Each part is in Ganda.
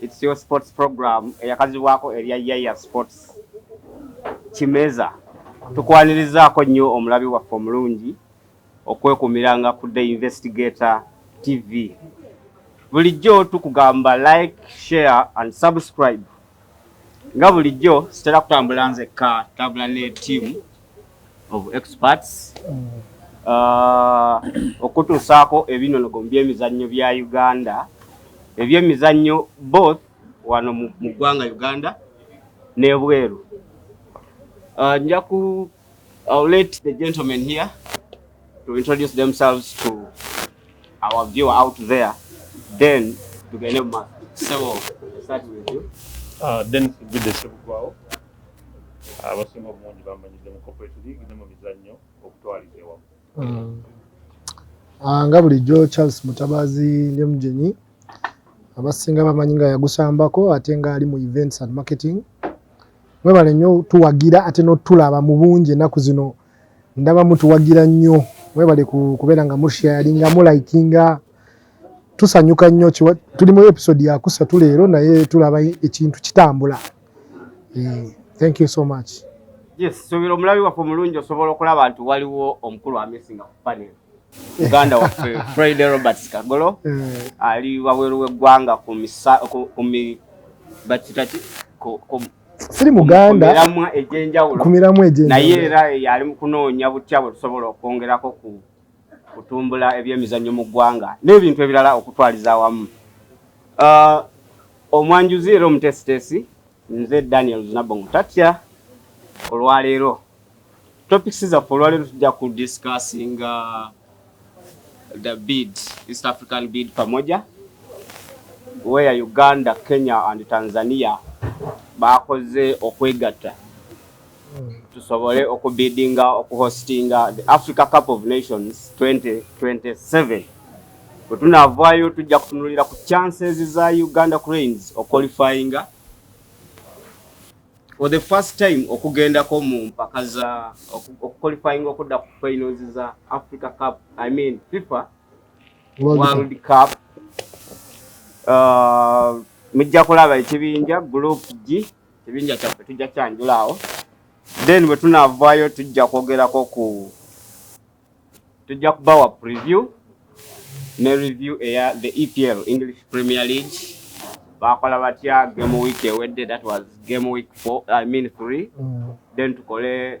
It's your sports program eyakazibwako erya Yaya Sports Kimeza. Tukwanirizaako nnyo omulabi waffe omulungi okwekumiranga ku The Investigator TV. Bulijjo tukugamba like, share and subscribe. Nga bulijjo sitera kutambula nzekka, tambula ne tiimu. of experts uh, okutuusaako ebinonogo mu byemizannyo bya uganda ebyemizannyo both wano mu ggwanga uganda n'ebweru uh, nja ku I'll let the gentlemen here to introduce themselves to our viewer out there then tugende mu maaso sebo start with you uh, then abasinga obungi bamanyidde mu corporate league ne mu mizannyo okutwaliza ewamu hmm. ah, nga bulijjo charles mutabaazi lyemugyenyi abasinga bamanyi nga yagusambako ate ngaali mu events and marketing mwebale nnyo tuwagira ate notulaba mu bungi ennaku zino ndaba mutuwagira nnyo mwebale kubeera nga mushia yalinga mulikinga tusanyuka nnyo tuli mu episode yakusatu leero naye tulaba ekintu kitambula Eh, thank you so much. Yes, so biro mulabi waffe mulungi osobola okulaba nti waliwo omukulu amisinga ku panel. Uganda waffe Friday Roberts Kagolo eh. ali wabweru w'eggwanga ku misa ku mi bakitaki ku siri muganda kumiramwa ejenjawulo kumiramwa ejenjawulo naye era yali mukunoonya butya bwe tusobola okwongerako ku kutumbula ebyemizannyo mu ggwanga n'ebintu ebirala okutwaliza awamu. Uh, omwanjuzi era omutesitesi nze Daniel Zinabongo Tatya olwaleero topics zaffe olwaleero tujja ku discussing uh, the bid East African bid pamoja where Uganda, Kenya and Tanzania bakoze okwegatta tusobole okubidinga okuhostinga the africa cup of nations 2027 bwe tunaavaayo tujja kutunulira ku chances za uganda cranes oqualifyinga for the first time okugendako mu mpaka za okuqualifyinga okudda ku finals za africa cup i mean fifa world cup uh, mujja kulaba ekibinja group g ekibinja kyaffe tujja kyanjula awo then bwe tunaavaayo tujja kwogerako ku tujja kubawa preview ne review eya the epl english premier league bakola batya game week ewedde that was game week four, I mean three mm. then tukole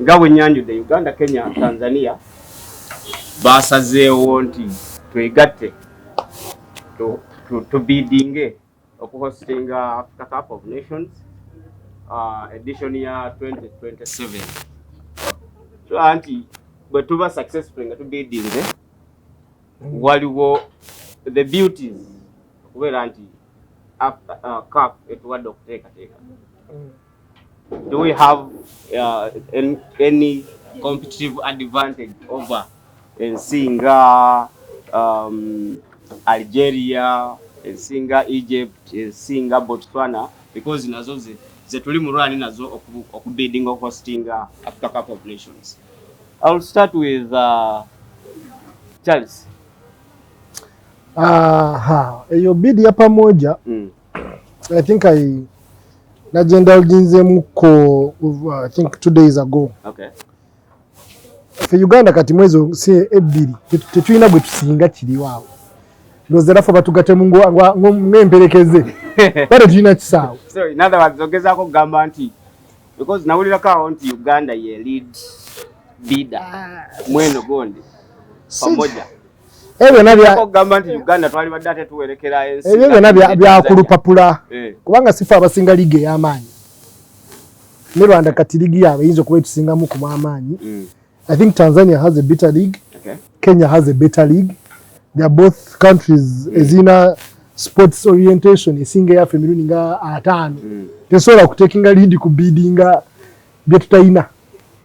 nga bwe nnyanjudde uganda kenya tanzania baasazeewo nti twegatte tubiidinge okuhostinga africa cup of nations uh, edition ya 2027 tulaba nti bwe tuba successful nga tubiidinge waliwo the beauties okubeera nti uh, cup etuwadde okuteekateeka mm. Do we have uh, an, any competitive advantage over ensi nga um, Algeria, ensi nga Egypt, ensi nga Botswana because nazo ze, ze tuli mu rwani nazo okubiddinga oku okuhostinga Africa Cup of Nations. I will start with uh, Charles. Aha, eyo bid ya pamoja mm. I think I nagenda olinzemuko uh, I think two days ago. Okay. Fe Uganda kati mwezi si ebbiri tetulina gwe tusinga kiriwaawo ndoza era fe batugatemu ng'emperekeze bade tulina kisaawo. So in other words ogezaako okugamba nti because nawulirako awo nti Uganda ye lead leader ah. mweno gondi pamoja ebyo byona byakulupapula eh. kubanga sifa abasinga liigi ey'amaanyi ne rwanda kati liigi yaabwe eyinza okuba etusingamu kumu amaanyi mm. i think tanzania has a better league okay. kenya has a better league theyare both countries mm. ezirina sports orientation esinga eyaffe emirundi nga ataano mm. tesobola kutekinga liidi ku biidinga bye tutalina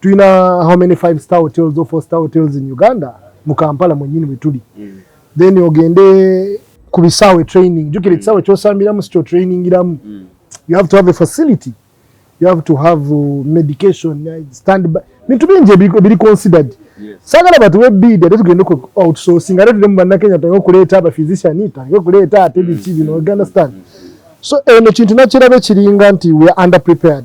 tulina how many five star hotels or four star hotels in uganda mu kampala mwenyini wetuli mm. then ogende ku bisaawe training jukira mm. ekisaawe kyosambiramu sikyo trainingiramu mm. you have to have a facility you have to have uh, medication uh, stand by bintu bingi ebiri considered sagala batuwe bidi ate tugende ku outsourcing ate tuli mu bannakenya tutange okuleeta abaphysician tutange okuleeta ate biki bino understand so eno kintu nakirabe kiringa nti we are under prepared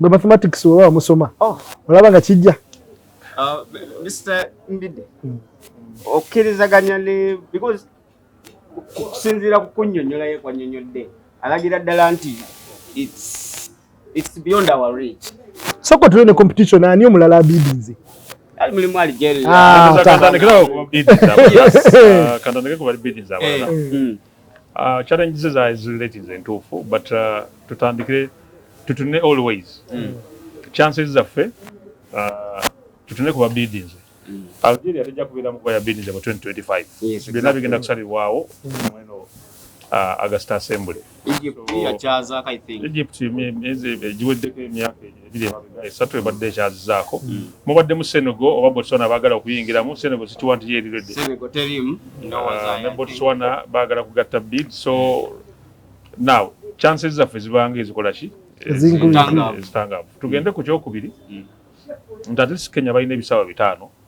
Gwe mathematics oba wamusoma oh. olaba nga kijja uh, Mr. Mbide hmm. okkirizaganya ne because okusinziira ku kunnyonnyola ye kwannyonnyodde alagira ddala nti it's beyond our reach soko tuliwo ne competition ani omulala abidinze ali mulimu ali jeri ah, ah, kantandikira ku babidinza yes ah, kantandikira ku babidinza eh, hmm. Uh, challenge ze za zileti ze ntuufu but uh, tutandikire tutune always mm. chances zaffe uh, tutune kuba bidinze mm. Algeria tejja kubeera mu kuba ya bidinze mu 2025 yes, byonna bigenda kusalibwawo mm. mweno uh, August Assembly Egypt so, yakyazaako I think Egypt giweddeko emyaka egyo ebiri emabega esatu ebadde ekyazizaako hmm. mubadde mu senego oba botswana baagala okuyingiramu senego sikiwa nti yeeriredde ah, ne botswana baagala kugatta bid so now chances zaffe zibanga ezikola ki ezitangaavu tugende ku kyokubiri hmm. nti atlist kenya balina ebisawa bitaano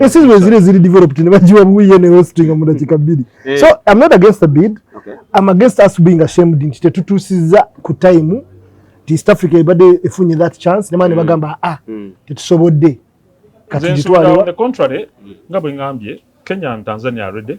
Esi zino zile zili developed ne bajiwa buye ne hosting mu dakika bbiri. Eh. So I'm not against the bid. Okay. I'm against us being ashamed nti tetutusiza ku time ti East Africa ebade efunye that chance ne mane mm. bagamba ah mm. tetusobodde. Kati jitwale. On the contrary, ngabo ngambye Kenya and Tanzania already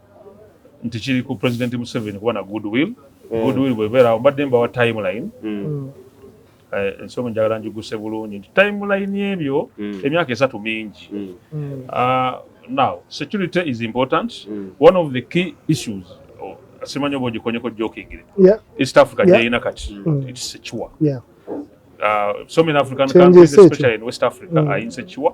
nti kiri ku president museveni kuba na good will mm. good will bwebeerawo mbadde mbawa timeline mm. eh, ensomi njagala njiguse bulungi nti timeline ebyo mm. emyaka esatu mingi ah, now security is important one of the key issues oh, simanyi oba ogikonyeko jokingire east africa gyeyina kati its secure ah, so many african countries especially in west africa are insecure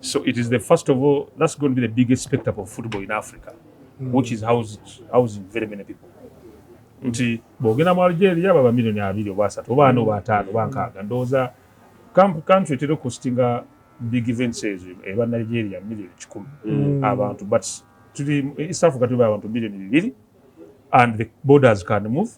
So it is the first of all, that's going to be the biggest spectacle of football in Africa, mm. which is housing, housing very many people. nti bwogenda mu algeria baba milioni abiri oba asatu oba ana oba ataano oba nkaaga ndowooza country etera okusitinga big events ezo eba nigeria milioni kikumi mm. abantu but tuli east africa tuli abantu milioni bibiri and the borders can move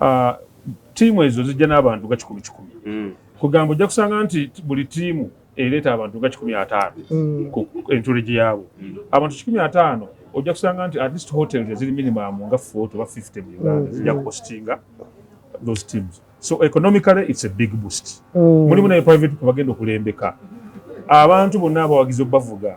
Ah, tiimu ezo zijja n'abantu nga kikumi kikumi mm. kugamba ojja kusanga nti buli tiimu ereeta abantu nga kikumi ataano mm. ku entureji yaabo mm. abantu kikumi ataano ojja kusanga nti at least hotel eziri minimum nga fort oba fifty mu uganda zijja kuhostinga those teams so economically it's a big boost mulimu naye private people bagenda okulembeka abantu bonna abawagizi obubavuga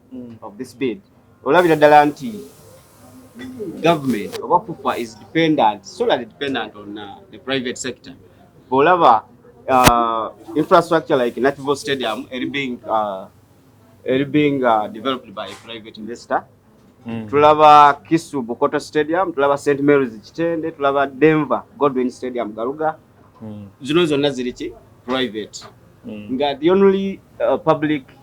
mm. of this bid olabira ddala nti government oba fufa is dependent solely dependent on uh, the private sector bwolaba uh, infrastructure like natival stadium eri being uh, eri being uh, developed by a private investor mm. tulaba kisu bukoto stadium tulaba st marys kitende tulaba denver godwin stadium garuga mm. zino zonna ziriki private mm. nga the only uh, public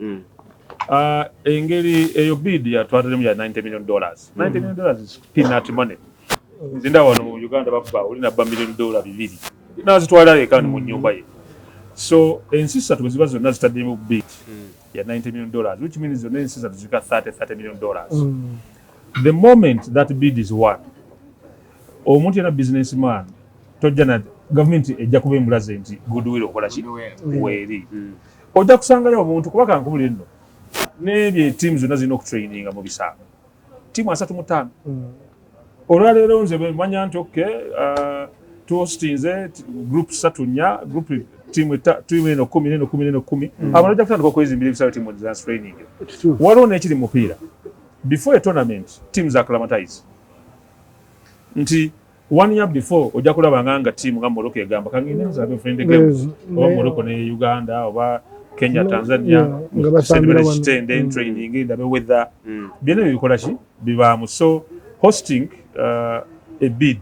Mm. Uh, engeri eyo bid yatwatalimu ya 90 million dollars 90 mm. million dollars is peanut money nzinda wano mu uganda bakuba olina ba million dollar bibiri nazitwala eka mu mm. nyumba ye so ensi ssatu bwe ziba zonna zitaddemu bid ya 90 million dollars which means zonna ensi ssatu zirika 30 30 million dollars the moment that bid is one Omuntu yena business man tojja na government ejja kuba embulaze nti goodwill okola ki weeri mm. ojja kusangayo omuntu kuba kankubulire nno nebye tiimu zonna zirina okutraininga mu bisaamo tiimu asatu mu ttaano mm. olwaleero nze bwemanya nti ok uh, tuhostinze group satu nnya group tiimu eno kumi neno kumi neno kumi mm. abantu ojja kutandika okwezimbira ebisawo tiimu za training waliwo nekiri mupiira before a tournament tiimu za climatize nti one year before ojja kulaba nga nga tiimu nga morocco egamba kangende nzabe friend games oba morocco ne uganda oba kenya tanzania sendibera kitende mm. training ndabe weather mm. byona bikola ki bibaamu so hosting uh, a bid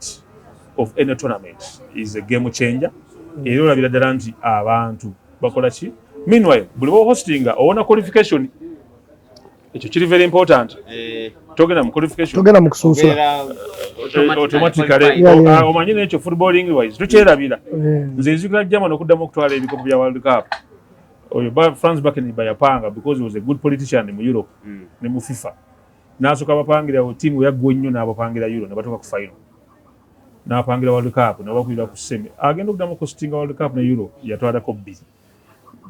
of any tournament is a game changer mm. era olabira ddala nti abantu bakola ki meanwhile buli ba hostinga owona qualification ekyo kiri very important eh. togenda mu qualification togenda mu kusunsula eh, automatically ah, omanyi nekyo footballing wise tukyerabira eh. nze nzikira german okuddamu okutwala ebikopo bya world cup oyo france baken bayapanga because was a good politician mu europe hmm. ne mu fifa nasoka bapangira tiimu yaggwa ennyo n'abapangira euro ne batuuka ku final n'apangira world cup nabakulira ku semi agenda okuddamu kositinga world cup ne euro yatwalako bbiri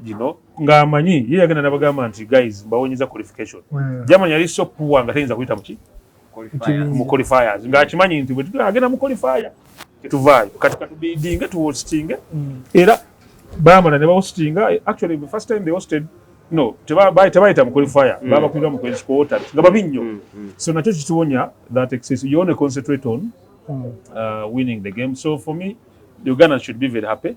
gino nga amanyi ye yagenda nabagamba nti guys mbawonyeza qualification hmm. jamani yali so poor nga tayinza kuyita muki mu qualifiers nga akimanyi nti agenda mu qualifier tetuvaayo kati katubidinge tuwositinge hmm. era bamala ne bawositinga actually the first time they hosted no tebayita mu qualifier hmm. babakulira mu kwensi kuwota nga babi nnyo so nakyo kituwonya that excess you only concentrate on uh, winning the game so for me uganda should be very happy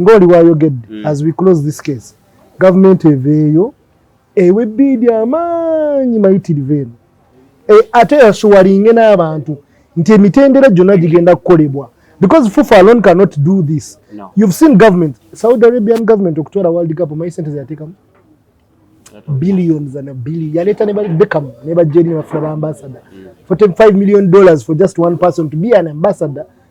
ngoli wayogedde mm. as we close this case government eveeyo ewe biidi amaanyi mayitirivu eno e, ate yasuwalinge n'abantu nti emitendera gyonna gigenda kukolebwa because fufa alone cannot do this no. you've seen government saudi arabian government okutwala world cup omanyi sente zeyatekamu billions and a billion yaleeta nebabekamu nebajeri nebafuna baambasada mm. for 5 million dollars for just one person to be an ambassador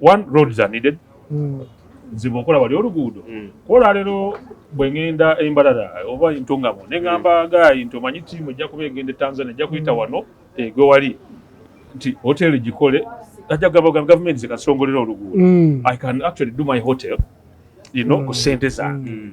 one roads are needed mm. nzibu okola wali oluguudo mm. kola lero bwe ngenda embalala oba entungamo ne ngamba mm. gayi nti omanyi tiimu ejja kuba egenda e tanzania ejja kuyita mm. wano egwe wali nti hoteli gikole ajja kugamba gamba gavumenti zekasongolera oluguudo mm. i can actually do my hotel you know mm. ku sente zange mm.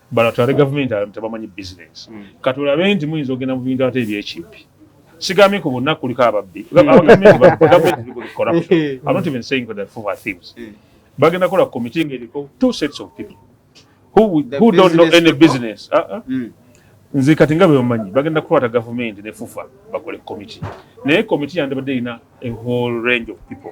Bano atwale gavumenti abamu tebamanyi bizinensi. Hmm. Kati olabe nti muyinza ogenda mu bintu ate ebyekimpi. Sigambye ku bonna kuliko ababbi. Hmm. Hmm. Bagenda kola komiti ng'eriko two sets of people who, who don't know any business. Uh -uh. Mm. Nze kati nga bwebamanyi bagenda kukwata gavumenti ne fufa bakole komiti naye komiti yandibadde erina a whole range of people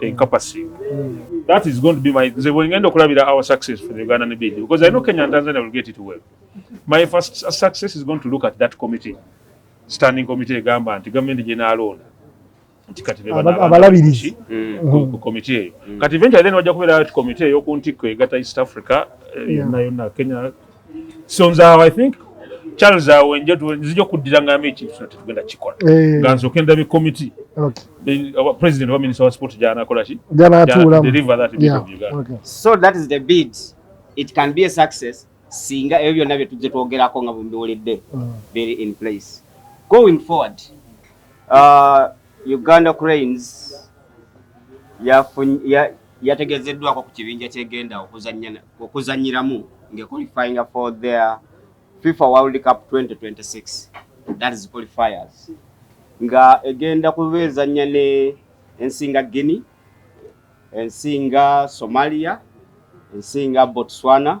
encompassing mm. that is going to be my nze bwengenda okulabira our success for the ugandan bid because i know kenya and tanzania will get it well my first success is going to look at that committee standing committee egamba nti gavumenti gyenaalonda nti kati abalabirizi ku komite eyo kati eventually then wajja kubeera ti komite eyokuntikko egata east africa eh, yonna yonna kenya sonza awo i think charles awo nja nzija okuddira ngambe ekintu kino tetugenda kikola eh. nga nze okenda be committee president wa minister wa sport gyanakola ki so that is the bid it can be a success singa ebyo byonna bye tujje twogerako nga bumbiwulidde mm. very in place going forward uh, uganda cranes yategezeddwako ku kibinja kyegenda okuzanyiramu ngequalifyinga for their FIFA World Cup 2026 that is qualifiers nga egenda kuba ezannya ne ensinga Guinea ensinga Somalia ensinga Botswana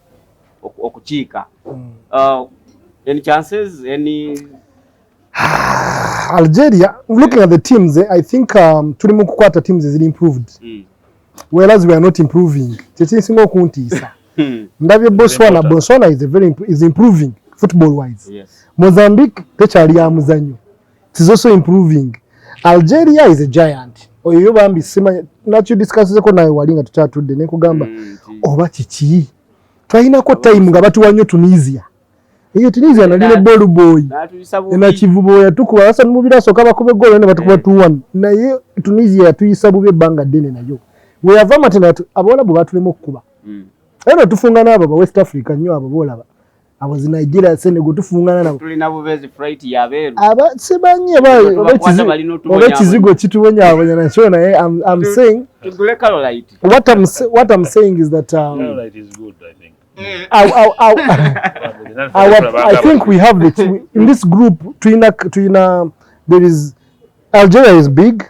okukiika mm. uh, any chances any Algeria looking at the teams eh, I think um, tuli mu kukwata teams ziri improved mm. whereas we are not improving kyekinsinga okuntiisa hmm. ndabye Botswana Botswana is, a very, is improving football wise yes. Mozambique tekyali ya muzanyo is also improving algeria is a giant oyo yo bambi simanya nakyo discusseko naye wali nga tukyatudde nekugamba mm, oba kiki twalinako time nga batuwa nnyo tunisia eyo tunisia nali ne bolboy enakivubo yatukuba asa mubira asoka bakuba egolo ne batukuba mm. tuwan naye tunisia yatuyisa bubi ebbanga ddene nayo weyava matena abawalabu batulema okukuba mm. era tufunga naabo ba west africa nnyo abo bolaba abo zi Nigeria Senegal tufungana nabo tulina bubezi freight ya beru aba sibanye ba oba kizigo kitubonya abonya na chona eh I'm, I'm saying tugule Caroline what I'm what I'm saying is that um, Caroline is good I think eh. I, I, I, I, I, I think we have the two, in this group tuina tuina there is Algeria is big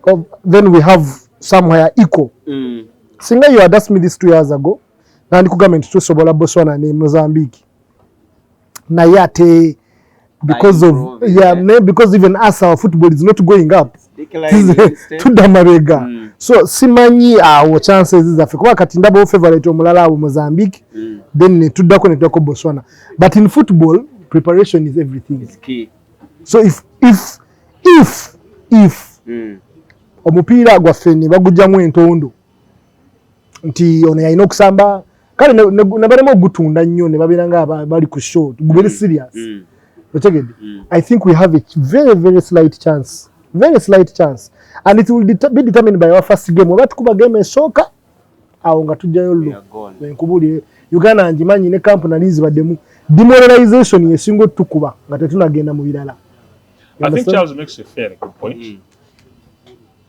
of, then we have somewhere equal mm. singa you had asked me this two years ago nandikugambye nti tusobola Botswana ne Mozambique naye ate because of yeah, maybe because even us our football is not going up tudda mabega mm. so simanyi awo uh, chances zaffe kuba kati ndaba favorite omulala awo Mozambique mm. then netuddako netuddako Botswana but in football preparation is everything is key. so if if if if mm. omupiira gwaffe ne bagujjamu entondo nti ono yalina okusamba kale nebalema ogutunda nnyo nebabeera nga bali ku show gubere mm. serious mm. otegedde mm. i think we have a very very slight chance very slight chance and it will be determined by our first game oba tukuba game esooka awo nga tujjayo llo enkubulire uganda ngimanyi ne camp nali nzibaddemu demoralization yesinga otukuba nga tetunagenda mu birala I think Charles makes a fair good point. Mm.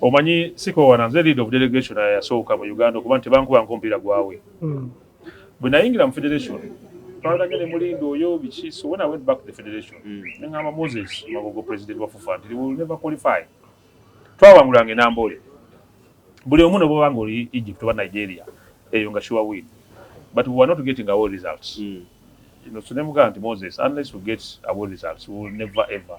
Omanyi sikoowana nze leader of delegation yasooka mu Uganda okuba nti tebankubanko mupiira gwawe mm. bwe nayingira mu federation twalage ne mulinda oyo biki so when I went back to the federation mm. ne ngamba Moses Magogo president wa FUFA nti will never qualify twawangulanga enamboole buli omu ne bwobanga oli Egypt oba Nigeria eyo nga sure win but we were not getting our results mm. you know, so ne mugamba nti Moses unless we get our results we will never ever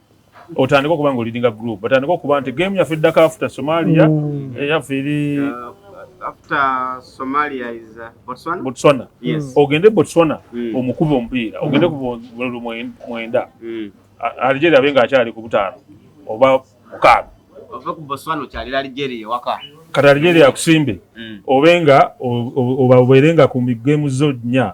otandika okuba nga olidinga group batandika okuba nti game yaffe eddako after somalia mm. eh, yaffe eri botswana ogende botswana mm. omukuba omupiira ogende ku mwenda mm. algeria abe nga akyali ku butaano oba mukaaga kati algeria akusimbe obe nga obabeere nga ku migemu zo nnya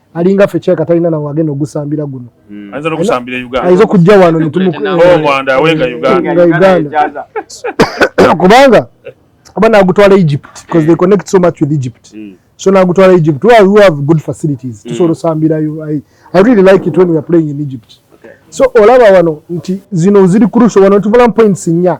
alinga ffe kyeka talina nawe agenda ogusambira guno hmm. ayinza okujja wano netumuuganda kubanga oba nagutwala egypt bcause they connect so much with egypt hmm. so nagutwala egypt where we have good facilities hmm. tusobola osambirayo i really like it when we are playing in egypt so olaba wano nti zino ziri crucial wano tuvulamu points nya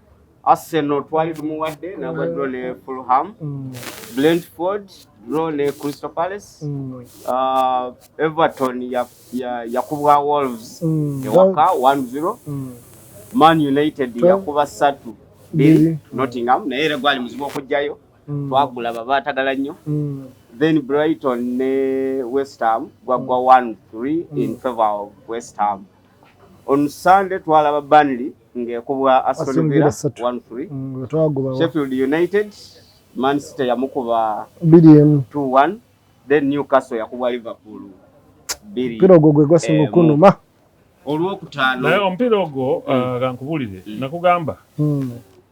Arsenal twali tumuwadde nagwa draw ne Fulham, mm. Brentford draw ne Crystal Palace, mm. uh, Everton yakubwa Wolves mm. ewaka 1-0, Man United yakuba satu biri Nottingham naye era gwali muzibu okujjayo twagula baba atagala nnyo then Brighton ne West Ham gwagwa 1-3 in favor of West Ham. On Sunday twalaba Burnley ng'ekubwa Aston Villa 1-3. Mm, Sheffield United Man City yamukuba 2-1 then Newcastle yakubwa Liverpool bbiri. Mpira ogwo gwe gwasinga eh, okunuma olwokutaano. Naye omupiira ogwo mm. uh, kankubulire mm. nakugamba mm.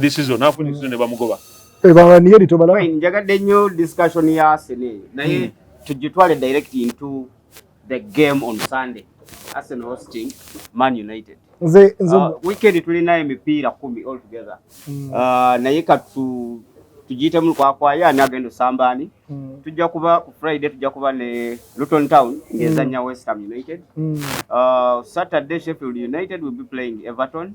this is onafu ni zune bamugoba ebanga niye lito bala fine njagadde nnyo discussion ya Arsenal eyo naye hmm. tujitwale direct into the game on Sunday Arsenal hosting Man United nze nze uh, weekend tulina emipiira kumi all together mm. uh, naye katu tujite mu kwa kwa ya nagendo sambani mm. tujja kuba ku Friday tujja kuba ne Luton Town ngezanya mm. West Ham United mm. uh, Saturday Sheffield United will be playing Everton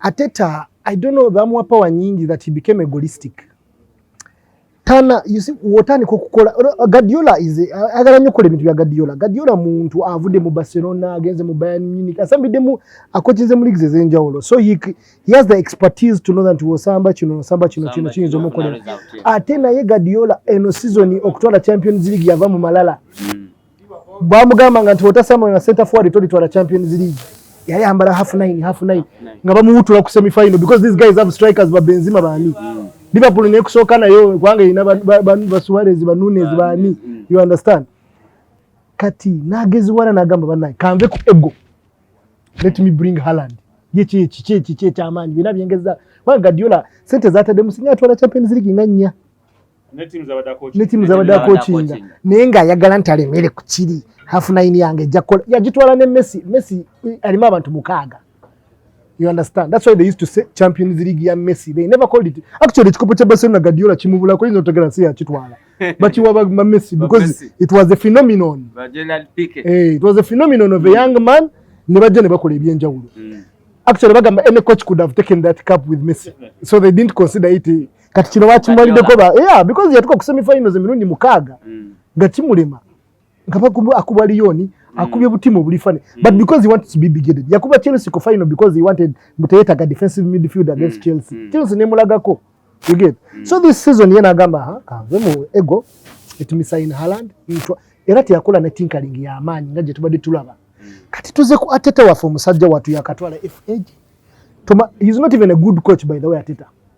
Ateta, I don't know, bamuwa power nyingi that he became egoistic. Tana, you see, wotani kukukola, Guardiola is, agala nyo kule mitu ya Guardiola. Guardiola muntu avude mu Barcelona, agenze mu Bayern Munich, asambi demu akochinze mu ligi zeze nja ulo. So he, he has the expertise to know that wo samba chino, samba chino, chino, chino, chino, chino, chino. Atena ye Guardiola, eno season, okutwala Champions League ya vamu malala. Mm. bamugambanga nti otasamula na center forward tolitwala champions league yali ambala half nine half nine nga bamuwutula ku semi final because these guys have strikers ba benzima bani mm. liverpool ne kusooka nayo kubanga erina basuarez ba nunes bani mm. you understand kati nageziwala nagamba banaye kanve ku ego let me bring haland yeki ekiki ekiki ekyamaanyi byona byengeza kubanga gadiola sente zatadde musinga atwala champions league nga nnya ne tiimu zabadde akokinga naye ng'ayagala nti alemere ku kiri hafu nayini yange ejja kukola yagitwala ne messi messi eh, alimu abantu mukaaga you understand that's why they used to say champions league ya messi they never called it actually ekikopo kya barcelona gadiola kimubulako yinza otegera si yakitwala bakiwa ba messi because it was a phenomenon eh, it was a phenomenon of a young man ne bajja ne bakola ebyenjawulo mm. actually bagamba any coach could have taken that cup with messi so they didn't consider it eh, kati kino bakimuwaliddeko ba yeah because yatuka ku semi finals emirundi mukaaga mm. nga kimulema nga bakuba akuba liyoni mm. akubye butimu obulifane mm. but because he wanted to be bigoted yakuba chelsea ku final because he wanted muteyetaga defensive midfield against mm. chelsea mm. chelsea nemulagako you get mm. so this season yena agamba ha kanve mu ego etumisain haland ntwa era teyakola ne tinkering ya amaanyi nga gye tubadde tulaba mm. kati tuze ku ateta waffe omusajja watu yakatwala fag Toma, he's not even a good coach by the way ateta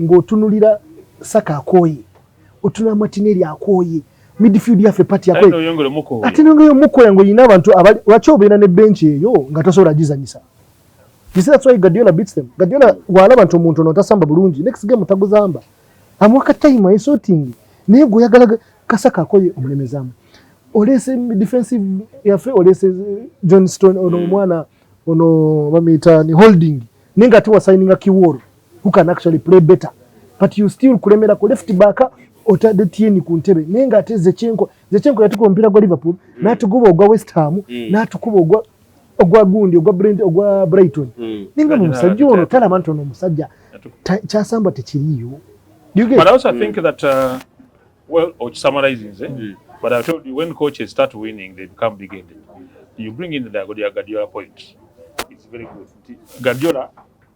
ng'otunulira saka akooye otunula matineri akooye midfield yaffe pati yakoye ate nongeyo mukoya ng'olina abantu lwaki obeera ne bench eyo nga tosobola gizanyisa You see that's why Guardiola beats them. Guardiola walaba nti omuntu ono tasamba bulungi next game taguzamba. Amwaka time ye sorting. Naye gwe yagala kasaka akoye omulemezamu. Olese defensive yafe olese John Stone ono hmm. mwana ono bamita ni holding. Ninga tuwa signing a kiworo. who can actually play better but you still kulemera ku left back otadde tieni ku ntebe naye nga ate zekyenko zekyenko yatukuba omupiira gwa liverpool mm. natuguba ogwa west ham mm. natukuba ogwa ogwa gundi ogwa brent ogwa brighton mm. ninga mu musajja ono talaba nti ono omusajja kyasamba tekiriyo but also i think mm. that uh, well or summarizing eh? mm. but i told you when coaches start winning they become big ended you bring in the guardiola point it's very good guardiola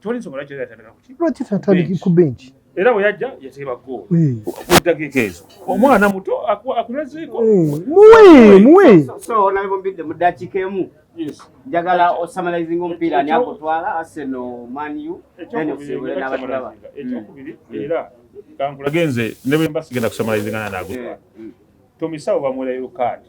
toli nsobola kyo yatandika kuki lwaki tatandiki ku bench era bwe yajja yateeba goolo eh. mu ddakiika ezo omwana muto akulezeeko eh, muwe muwe so nabombidde mu ddakiika emu njagala osamalizing omupiira ani akutwala aseno manu then osibule n'abatulaba ekyokubiri mm. era kankulage nze ne bwe mba sigenda kusamalizingana naagutwala eh, mm. tomisawo bamuwerayo kaadi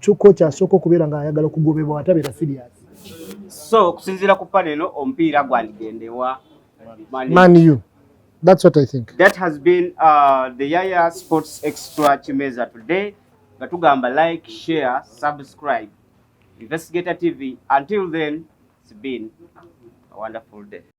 True coach asooka okubeera nga ayagala okugobebwa watabeera serious. So okusinziira ku pale eno omupiira gwandigendewa Man U. That's what I think. That has been uh, the Yaya Sports Extra Chimeza today. Nga tugamba like, share, subscribe. Investigator TV. Until then, it's been a wonderful day.